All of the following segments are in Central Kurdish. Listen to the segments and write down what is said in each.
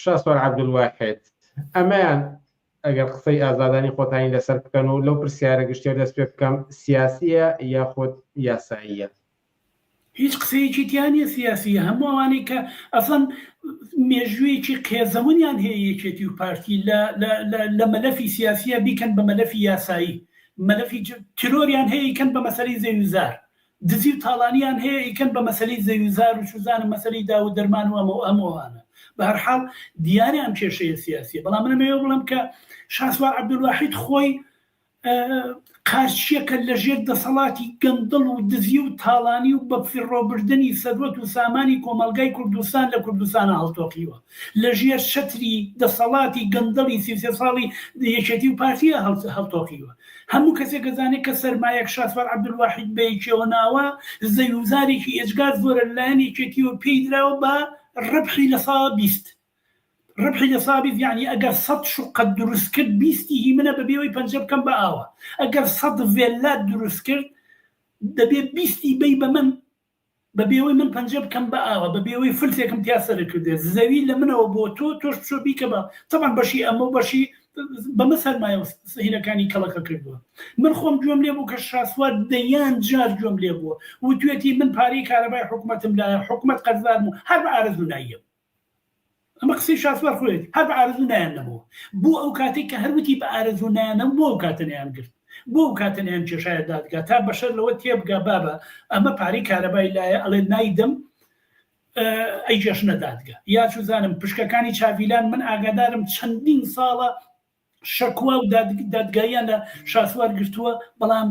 شاسوار عەبدولواحید، ئەمەیان ئەگەر قسەی ئازادانەی خۆتانی لەسەر بکەن و لەو پرسیارە گشتیە دەست پێ بکەم، سیاسییە یاخود یاساییە؟ هیچ قسەیەکی تیا نیە سیاسییە، هەموو ئەوانەی کە ئەسڵەن مێژوویەکی قێزەونیان هەیە یەکێتی و پارتی لە مەلەفی سیاسییە بیکەن بە مەلەفی یاسایی، مەلەفی ترۆریان هەیە یکەن بە مەسەلەی زەوی و زار، دزی و تاڵانیان هەیە ئیکەن بە مەسەلی زەوی و زار و چوزانم مەسەلی داو و دەرمان و ئەمە و ئەم و ئەوانە بە هەر حاڵ دیارە ئەم کێشەیە سیاسیە بەڵام من ئەمەوێ بڵێم کە شاسوار عەبدولواحید خۆی قارچیەکە لە ژێر دەسەڵاتی گەندڵ و دزی و تاڵانی و بە فڕۆبردننی سەروەت و سامانی کۆمەلگای کوردستان لە کوردستانە هەڵتۆقیوە لە ژێر شەتری دەسەڵاتی گەندڵی سیسێ ساڵی یەکێتی و پارتیە هەڵ هەڵتۆقیوە هەموو کەسێک ئەزانێت کە سەرمایەک شاسوار عەبدولواحید بەیەکیەوە ناوە، زەویوزارێکی ئێجگار زۆرە لەلایەن یەکێتیەوە پێی دراوە بە ربحی لە سا بیست. ربحی لە سا بیست یانی ئەگەر سەد شوققەت دروست کرد بیستی هی منە بەبێ ئەوەی پەنجە بکەم بە ئاوە. ئەگەر سەد ڤێللات دروست کرد دەبێ بیستی بەی بە من. بە بێوەی من پەنجە بکەم بە ئاوە بە بێوەی فلتێکم تیا سەرک کردێ زەوی لە منەوە بۆ تۆ تۆش بچۆ بیکە بە تەبان بەشی ئەمە و بەشی بەمە سەرمایە و سهیلەکانی کەڵەکە کردووە من خۆم گوێم لێ بوو کە شاسوار دەیان جار گوێم لێ بووە وتوێتی من پارەی کارەبای حکومەتم لایە حکومەت قەرزارم و هەر بە ئارەزوو ناییەوە ئەمە قسەی شاسوار خۆیەتی هەر بە ئارەزوو نایاننەبووە بۆ ئەو کاتێک کە هەر وتی بە ئارەزوو نایانەم بۆ ئەو کاتە نەیانگرت بۆ ئەو کاتە نەیانکێشایە دادگا تا بەشەر لەوە تێبگا بابە ئەمە پارەی کارەبای لایە ئەڵێ نایدەم ئەیکێشنە دادگا یاچوزانم پشکەکانی چاڤیلان من ئاگادارم چەندین ساڵە شەکوا و دادگاییان لە شاسوار گرتووە، بەڵام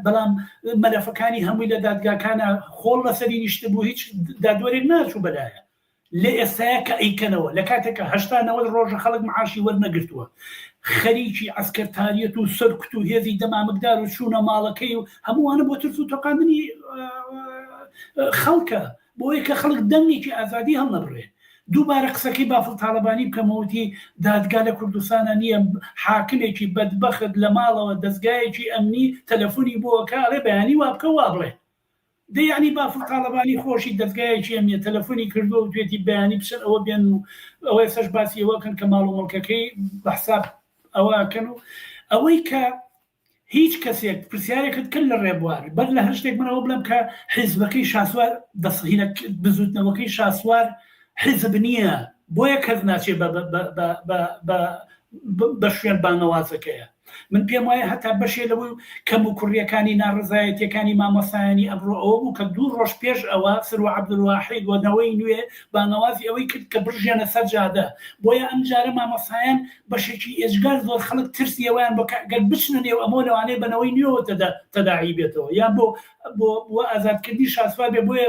بەڵام مەلەفەکانی هەمووی لە دادگاکانە خۆڵ لەسەری نیشتبوو هیچ دادوەرێک ناچوو بەلایە. لە ئێستایا کە ئەیکەنەوە لە کاتێکا هەشتا نەوەد ڕۆژە خەڵک معاشی وەرنەگرتووە خەریکی عەسکەرتاریەت و سەرکوت و هێزی دەمامکدار و چوونە ماڵەکەی و هەمووانە بۆ ترس و تۆقاندنی خەڵکە بۆیە کە خەڵک دەنگێکی ئازادی هەڵنەبڕێ. دووبارە قسەکەی بافڵ تاڵەبانی بکەم و وتی، دادگا لە کوردستانا نییە، حاکمێکی بەدبەخت لە ماڵەوە دەزگایەکی ئەمنی تەلەفونی بۆ ئەکا ئەڵێ بەیانی وا بکە و وا بڵێ. دە یەعنی بافڵ تاڵەبانی خۆشی دەزگایەکی ئەمنیە تەلەفونی کردوە وتوێتی بەیانی بچن ئەوە بێنن و ئەوەسش باسی ئەوە ئەکەن کە ماڵ و مڵکەکەی بە حساب ئەوە ئەکەن و ئەوەی کە هیچ کەسێک پرسیارێکت کرد لە ڕێبوار بەر لە هەر شتێک من ئەوە بڵێم کە حیزبەکەی شاسوار بەس هیلە بزوتنەوەکەی شاسوار حیزب نییە بۆیە کەس ناچێ بە بە- بە- بە- بە- بە- بە- بە شوێن بانگەوازەکەیە من پێم وایە هەتا بەشێ لەوە کەم و کوڕیەکانی ناڕزایەتیەکانی مامۆستایانی ئەمڕۆ ئەوە بوو کە دوو ڕۆژ پێش ئەوە سروە عەبدولواحید و نەوەی نوێ بانگەوازی ئەوەی کرد کە بڕژێنە سەر جادە بۆیە ئەمجارە مامۆستایان بەشێکی ئێجگار زۆر خەڵک ترسی ئەوەیان بۆ کە گەر بچنە نێو ئەمەوە لەوانەیە بە نەوەی نوێوە تەدا تەداعی بێتەوە یان بۆ بۆ بۆ ئازادکردنی شاسوار بێ بۆیە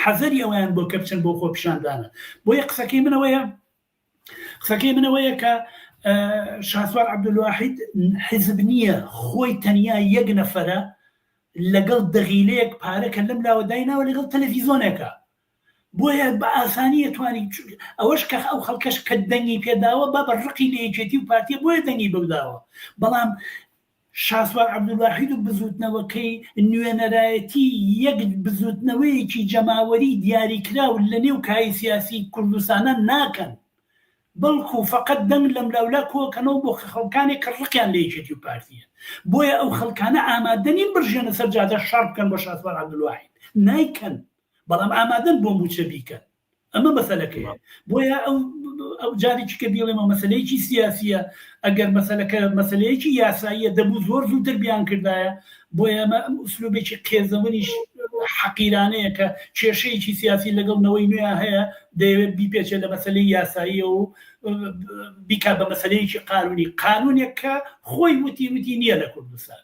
حەزەری ئەوەیان بۆ کە بچن بۆ خۆپیشاندانە بۆیە قسەکەی منەوەیە قسەکەی منەوەیە کە شاسوار عبدواحید حزب نییە خۆی تەنیا یەک نەفرە لەگەڵ دەغیلەیەک پارەکە لەم لاوە دایناوە لەگەڵ تەلەڤیزۆنێکە بۆیە بە ئاسانی ئەتوانی چونکە ئەوەش کە ئەو خەڵکەش کە دەنگی پێ داوە با بە ڕقی لە یەکێتی و پارتیە بۆیە دەنگی بەو داوە بەڵام شاسوار عەبدولواحید و بزووتنەوەکەی نوێنەرایەتی یەک بزووتنەوەیەکی جەماوەری دیاریکراو لە نێو کای سیاسی کوردستانە ناکەن بەڵکو فقط دەنگ لەم لەولا کۆکەنەوە بۆ خەڵکانێک کە ڕقیان لە یەکێتی و پارتیە بۆیە ئەو خەڵکانە ئامادەنین بڕژێنە سەر جادە شەڕ بکەن بە شاسوار عەبدولواحید نایکەن بەڵام ئامادەن بۆ مووچە بیکەن. ئەمە مەسەلەکەیە. بۆیە ئەو جارێکی کە بیڵێمەوە مەسەلەیەکی سیاسییە، ئەگەر مەسەلەکە مەسەلەیەکی یاساییە دەبوو زۆر زووتر بیانکردایە. بۆیە ئەمە ئوسلوبێکی قێزەونیش حەقیرانەیە کە کێشەیەکی سیاسی لەگەڵ نەوەی نوێیان هەیە، دەیەوێت بیپێچێت لە مەسەلەی یاساییەوە و بیکات بە مەسەلەیەکی قانوونی. قانوونێک کە خۆی وتی وتی نییە لە کوردستان.